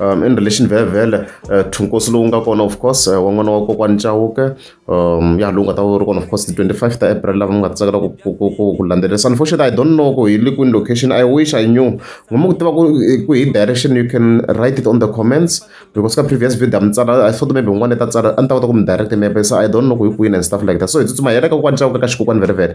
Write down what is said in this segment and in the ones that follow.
um in relation vhele vhele uh, thunkosi lowu nga kona of course uh, wa n'wana wa kokwani chawuke um ya lowu nga ta ri kona of course ti-twenty five ta april lava mi nga ta tsakela ku landzelerisa unfortunately i don't know ku hi le kwini location i wish i knew ngoma ku tiva ku hi direction you can write it on the comments because ka previous video a mi tsala i thought maybe un'wana ta tsala a ni ta kota ku mi direct maybe so i don't know ku hi kwini and stuff like that so hi tsutsuma hi ya le ka kokwani chawuke ka xikokwani vhele vhele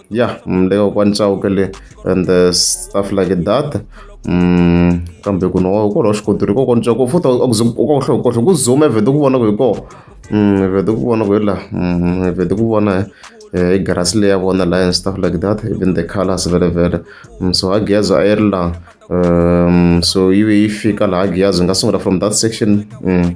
ya mm, le ka kwani chauke le and uh, stuff like that mm, kambe ku no ko lo xikoto ri ko ko ntswa ko futa ko ko hlo ko ku zoom evete ku vona ku hi ko mm, evete ku vona ku la evete ku vona eh, i grass leya vona la and stuff like that even the colors vele vele so ha giyazo a yi ri la um, so yi ve yi fika laha giyazo yi nga sungula from that section mm.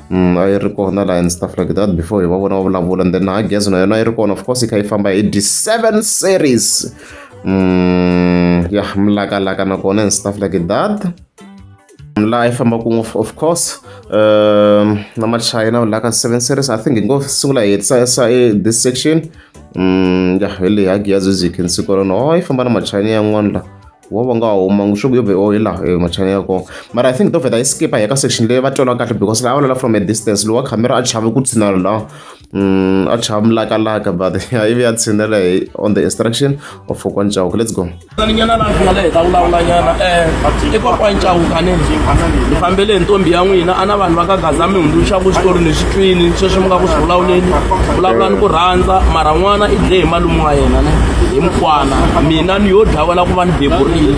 Mm, a yi ri kona laha and stuff like that before hi va vona va vulavula and then na gezi na yona yi ri kona of course yi kha yi famba hi d seven series mm, ya mlakalaka nakona and stuff like that laha yi fambaka ngopfu of course um na machina laha ka seven series i think hi ngo sungula hi hetisa e this section mm, ya hi leyi ha gezi zi khensi kolona o oh, yi famba na machina yan'wana laha wo va nga huma swi ku yo vhe ohi laha e machani ya kona mara i think to vheta yi skipa hi ka section leyi va tolwa kahle because laha va lola from a distance lowa camera a chave ku tshinela laha um a chava mulakalaka but ivi ya tshinela hi on the instruction of fokwa ncawuka let's go nyana laha ku nga le hi ta vulavula nyana um i kokwa ncawuka ni ni fambele hi ntombi ya n'wina a na vanhu va ka gaza mi hundzuluxa ku xitori ni swi twini sweswi mi nga ku swi vulavuleni vulavula ni ku rhandza mara n'wana i dle hi malume wa yena ne hi mukwana mina vanhu yo dlawa la ku va ni beburile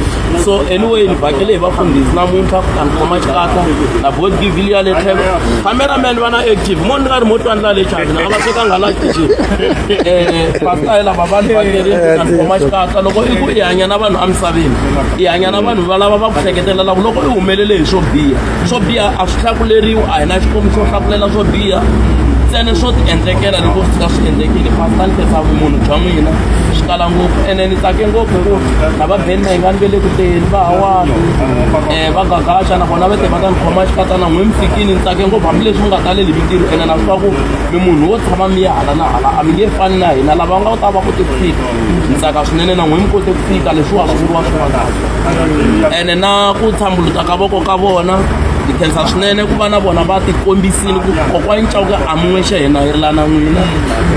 so anyway ni vhakele hi vafundhisi namuntlha ku ta ni khoma xikatla na board givil ya le tlhelo cameraman va na active mo ni nga ri mo twani la le chavina a va tekanga la tixi um pasta yi lava vanhu vhakele na ni khoma xikatla loko i ku i hanya na vanhu emisaveni i hanya na vanhu valava va ku hleketelelaku loko i humelele hi swo biha swo biha a swi hlakuleriwi a hi na xikomi xo hlakulela swo biha ntsene swo ti endlekela loko swi ta swi endlekile pastor ni khetsa vumunhu bya n'wina swi tala ngopfu ene ni tsake ngopfu hi ku na va beni mahingani ve le ku teni va hawani um eh, va gagaxa nakona va te va ta ni khoma xikatana n'wi mi fikini ni tsake ngopfu hambileswi mi nga taleli mintirho ene na swi va ku mi munhu wo tshama mi ya hala na hala a mi nge fani na hina lava nga ta va kote ku fika ni tsaka swinene na n'wi mi kote ku fika leswiwa swi vuriwa swin'wana ene na ku thambuluta ka voko ka vona hi khensa swinene ku va na vona va tikombisile ku kokwani cawuke amun'we xa hina hi rilana n'wina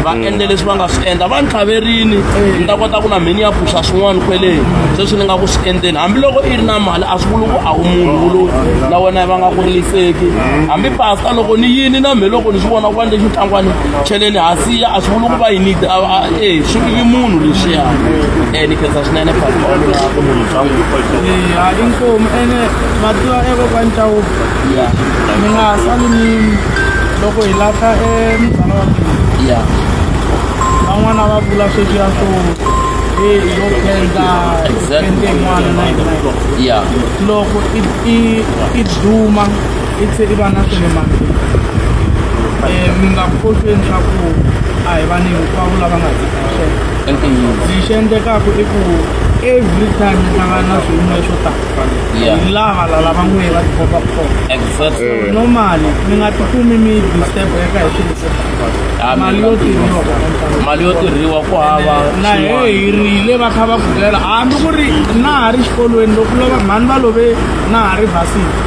va mm. endle leswi va nga swi endla va ni tlhaverini mm. ni ta kota ku na mheni ya phuxa swin'wana kweleni mm. sweswi ni nga ku swi endleni hambiloko i ri na mali a swi vuli ku a wu munhu wuloyi na wena va nga ku riliseki hambi pasta loko ni yini na mhe loko ni swi vona ku va ni lexi ntangwani cheleni hansi ya a swi vuli ku va yini e swi vivi munhu lexiya e ni khensa swinene phaolona ku munhu bya n'wina i nkomu ene mativa ekokwani chawuba mi nga sali ni loko hi lahla e munghana wa mina van'wana va vula sweswiya swo e yo khensa khensa yin'wana na yin'wana loko i duma i tlhe i va na swilo mambirhi um mi nga phohlweni swa ku a hi vanhu hinkwavo lava nga tikaxela lexi endlekaka i ku every time mi hlangana na swiyimo swo tala hi lava la lava n'we va tikomba ku kona normally mi nga tikumi mi disturb eka hi swilo swo tala mali yo tirhiwa mali yo tirhiwa ku hava na he hi rile va kha va ku byela hambi ku ri na ha ri xikolweni loko lova mhani va love na ha ri vasini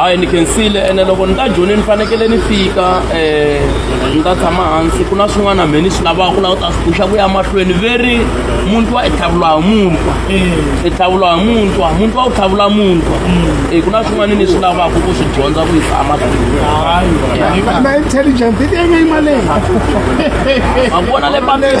hayi ni khensile ene loko ni ta joni ni fanekele ni fika um ni ta tshama hansi ku na swin'wana mhe ni swi lavaka laha u ta swi puxa ku ya mahlweni veri muntwa i tlhavula hi muntwa i tlhavula hi muntwa muntwa u tlhavula muntwa e ku na swin'wana ni swi lavaka ku swi dyondza ku yisa amahlweniakona le pamela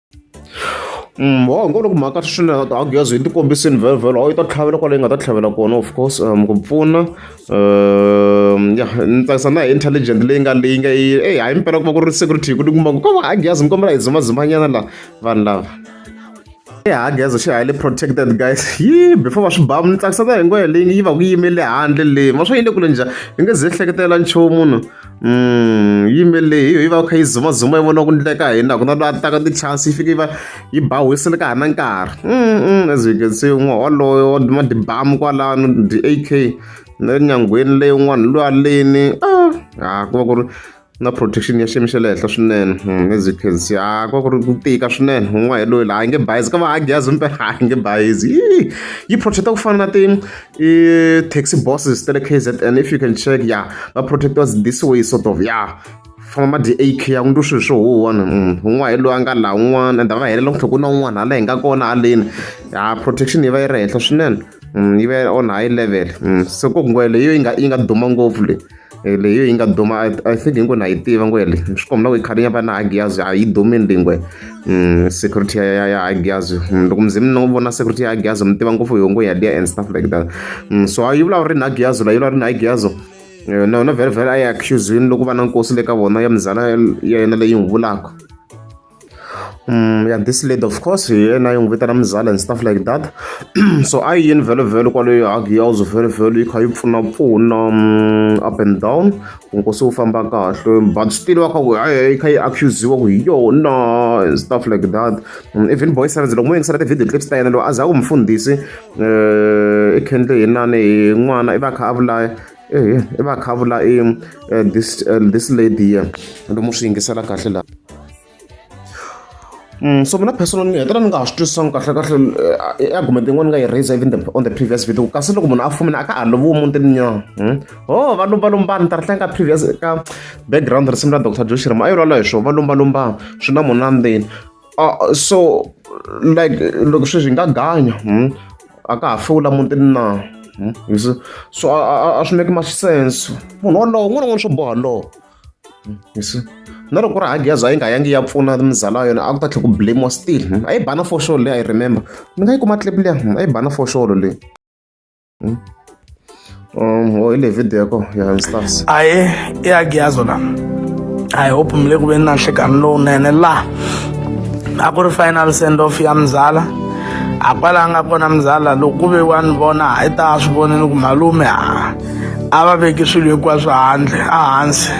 wa ngo loko mhaka swinene a wu gezi yi ti kombisini vhelovhelo a wu yi ta tlhavela kwale yi nga ta tlhavela kona of course um ku pfuna um ya ni tsakisa na hi intelligent leyi nga leyi nga yi eyi hayi mpela ku va ku ri security hi ku ti kuma ku ka va agezi mi kombela hi dzimadzimanyana laha vanhu lava ehageza xi highly protected guys yi before va swi ba ni tsakisa na hi ngoya leyi yi va ku yimele handle leyi ma swa yi le kule njhani yi nge ze hleketela nchumu munhu yi yimele leyi yi va kha yi zumazuma yi vona ku ndleka hi na ku na loyi a taka ti-chance yi fike yi va yi ba whistle ka ha na nkarhi as you can see un'we waloyo wa duma tibamu kwalano ti-ak na le nyangweni leyi un'wana loyi aleni a ku va ku ri na protection ya xiyimo xa le henhla swinene hmm, as you can see a ku va ku ri ku tika swinene un'wana hi loyi laha a nge bayizi ka va ha gyazi mpe a nge bayizi yi protect-a ku fana na ti i taxi bosses ta le K_Z_N if you can check ya va protect-iwa this way sort of ya famba ma dye A_K ya ku ni twa swilo swo huhwana un'wana hi loyi a nga laha un'wana and a va helela ku tlhela ku na un'wana hala hi nga kona haleni ya protection yi va yi ri henhla swinene yi va yi on high level se ku leyo yi nga yi nga duma ngopfu leyi. leyi yi nga duma i think hinkwenu ha yi tiva ngo yele swi komba ku i khale ya va na hagiyazi a yi dumini leyi ngwe mm, security ya ya hagiyazi mm, loko mzimu ni vona security ya hagiyazi mi tiva ngopfu yongo ya liya and stuff like that mm, so yi vulavula ri na hagiyazi la yi vulavula ri na hagiyazi eh, na yona vhele vhele a yi accuse yini loko va na nkosi le ka vona ya mizala ya yena leyi n'wi vulaka ya this lady of course hi yena yi n'wi vitana muzala and stuff like that so a yi yini vhelovhelo kwaleyo hagi ya uzo vhelovhelo yi kha yi pfunapfuna up and down ku nkosi wu famba kahle but still wa kha ku yi kha yi accusiwa ku hi yona and stuff like that even boy sevens loko mo yingisela ti-video clips ta yena loyi a za ku mfundhisi i khendle hi nani hi n'wana i va kha a vulaya ehe i va khavula i eh, this eh, this lady here lomu swi yingisela kahle laha Mm, so mina personal ni hetelela ni nga ha swi twisisanga kahle kahle eh, i argument yin'wana ni nga yi raise even the, on the previous video kasi loko munhu a fumile a ka ha loviwi mutini nya hmm? o oh, va lumbalumba ni ta ri tlanga previous ka background risimu ra dr joshirama a yi lwala hi swona va lumbalumba swi na munhu na ndzeni uh, so like loko sweswi hi nga ganya hmm? a ka ha fewula mutini na hmm? so a swi make much sense munhu wolowo n'wana n'wana swo boha lowo hmm? na loko ri hageza yi nga yangi ya pfuna mizala yona a ku ta tlhe ku blamiwa still a yi bana foxolo leyi i remember ni nga yi kuma clip leya a yi bana foxolo leyi Hmm? Um, or ile video yakho uyayistaffs aye iyakuyazo la i hope mle kube na nhlekani lowunene la a ku ri final send off ya mzala a kwala nga kona mzala loko ku ve wa ni vona a yi ta a swi vonini ku malume a a va veki swilo hinkwaswo handle ehansi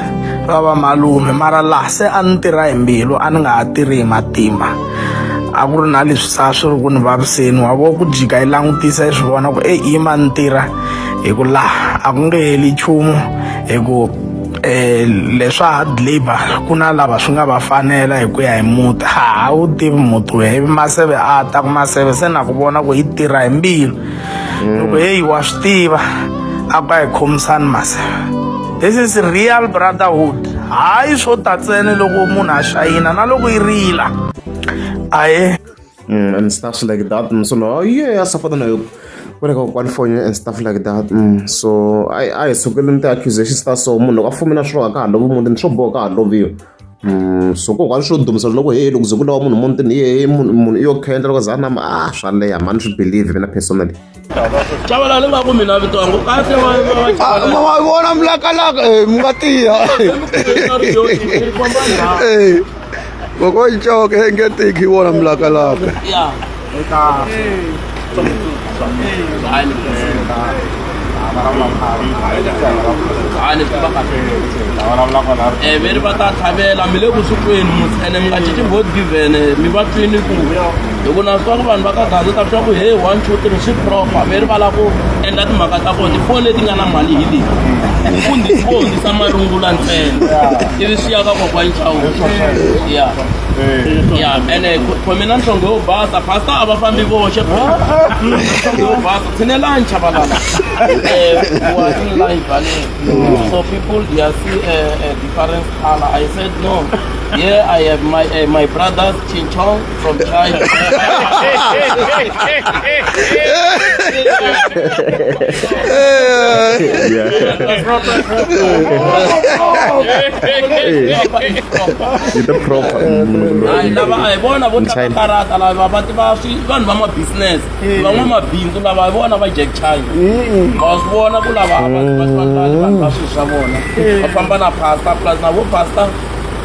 va va malume mara laha se a ni tirha hi mbilu a ni nga ha tirhi hi matimba a ku ri na leswi sa swi ri ku ni vaviseni wa vo ku jika yi langutisa yi swi vona ku eyi yi ma ni tirha hi ku laha a ku nge heli nchumu hi ku um leswa hard labour ku na lava swi nga va fanela hi ku ya hi muti ha wu tivi muti we ivi maseve a ta ku maseve se na ku vona ku yi tirha hi mbilu loko heyi wa swi tiva a ku a hi khomisani maseve this is real brotherhood hayi swo ta ntsene loko munhu a xayina na loko yi rila aye mm, and stuff like that mm, so no yeah a safana na yoku ku ri ka kokwani foni and stuff like that mm, so a hi sukeleni ti-accusations ta so munhu loko a fumela swilo a ka ha lovi muti ni swo boha ka ha loviwa so kokwani swo dumisa loko hehe loko ze ku lawa munhu mutini hehe munhu i yo khendla loko za a nama a ah, swa leha mani swi believe mina personally cavalale va ku mina vito yangu kahle wa vona mulakalaka eh, mi nga tiya kokocoke engetiki wona mulakalaka Eh, veri va ta tlhavela mi le kusukwini ene mi nga cinci god given mi va twini ku hi ku na swa ku vanhu va ka gaza ta swa ku he one two three swi propa veri va lava ku endla timhaka ta kona tifoni leti nga na mali hi leti ku ndzi vonisa marungula ntsena ivi swi ya ka kokwa nchawu ya ya ene khomela nhlonge yo basa pastor a va fambi voxe nhlonge yo basa tshinelanyi chavalala so people they are see a, a different color i said no yeah i have my uh, my brother's chinchong from china yeah. yi ta proper hayi lava a hi vona vo tlanga China. karata lava va tiva swi vanhu va mabusiness van'wamabindzu lava hi vona va jack china ma swi vona ku lava a va va tlangani vanhu va swilo swa vona va famba na pasta plus na vo pasta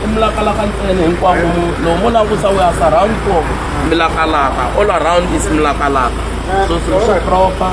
i milakalaka ntsena hinkwako mu- loko mo langusa we as around four milakalaka all around is milakalaka so swilo swi proper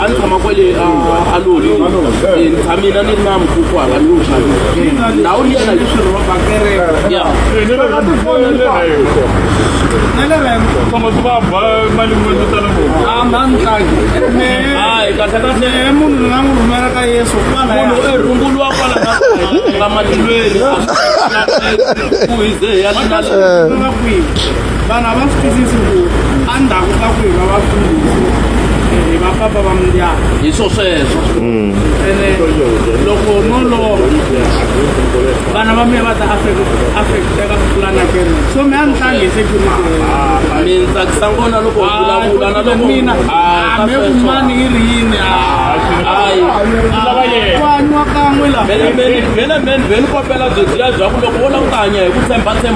a ni tshama kwale aloli mina ni ri na mukhuku hala ni wu xavisa ndhawu liya na leswirho va bakereka ya tshama swi va ba mali mwendu tala ngopfu a ma ni tlangi hayi kahle kahle munhu ni nga n'wi rhumela ka yesu kwala munhu e runguluwa kwala nga matilweni ku hize ya nga kwihi vanhu a va swi twisisi ku endzhaku ka ku hi va vakulu hi va papa va mindyangu hi swo sweswo ene loko no lova vana va mina va ta affecteka ku tlula na kene so mi a ni tlangi hi security mi ni tsakisa ngona loko hi vulavula na loko mina me kumani yi ri yini hayi kwaniwa kan'we laha vele vele vele vele kopela byo tiya bya ku loko wo languta hanya hi ku tshemba tshemba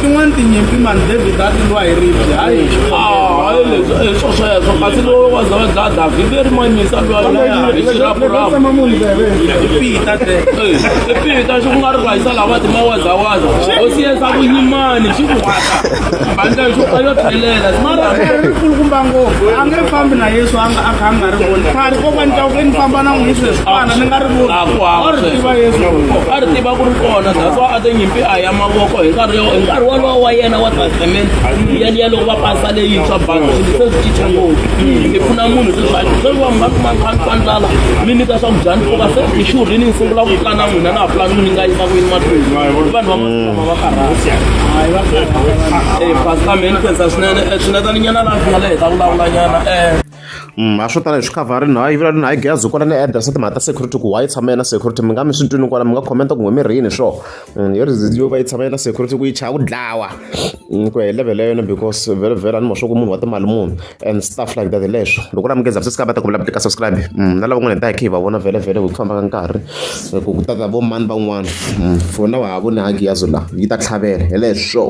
tin'wani tinyimpi mani david a ti lwa hi ribye hayi swo sweswo kasi lowo wa za va dlaya david i ri mayimisa lwaipita xi ku nga ri rhayisa lava timawazawaza o siyesa vunyimani xi ku hata bandla leswi a yo tlhelela mara khari ri kulukumba ngopfu a nge fambi na yesu a a kha a nga ri voni khari ko va ni twa ku ni famba na n'wi yesu leswiana ni nga ri voni a ri tiva yesu a ri tiva ku ri kona that's why a te nyimpi a ya mavoko hi nkarhi hi nkarhi wolowo wa yena wa testament yaliya loko va pasa leyintshwa balo se swi cinca ngopfu hi pfuna munhu sweswi a se va nga kuma nkhani ka ndlala mi nyika swakudya ni pfuka se hi xurhini ni sungula ku pulana n'wina na ha pulani ku ni nga yisa ku yini mahlweni vanhu va Mm, a swo tala hi swi khavharini hayi vula ni hayi gezi kwala ni address timhaka ta security ku why tshama yena security mi nga mi swi twini kwala mi nga comment ku ngwemirhini swo mm, yo yo va yi tshama yena security ku yi chaya ku dlawa mm, ku ya hi level ya yona because vhele vhele a ni ma swa ku munhu wa timali munhu and stuff like that leswo loko la munghezi a swi va ta ku vula tika subscribe mm, na lava n'wana hi ta hi khe hi va vona vhele vhele hi ku famba ka nkarhi ku ku tata vo mani van'wana mm, for na wa ha voni hagi yazo la yi ta tlhavela hi leswo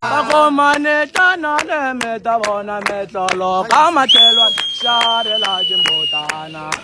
vakomane tanale mi ta vona metlolo ka matlhelwa xarela timbotana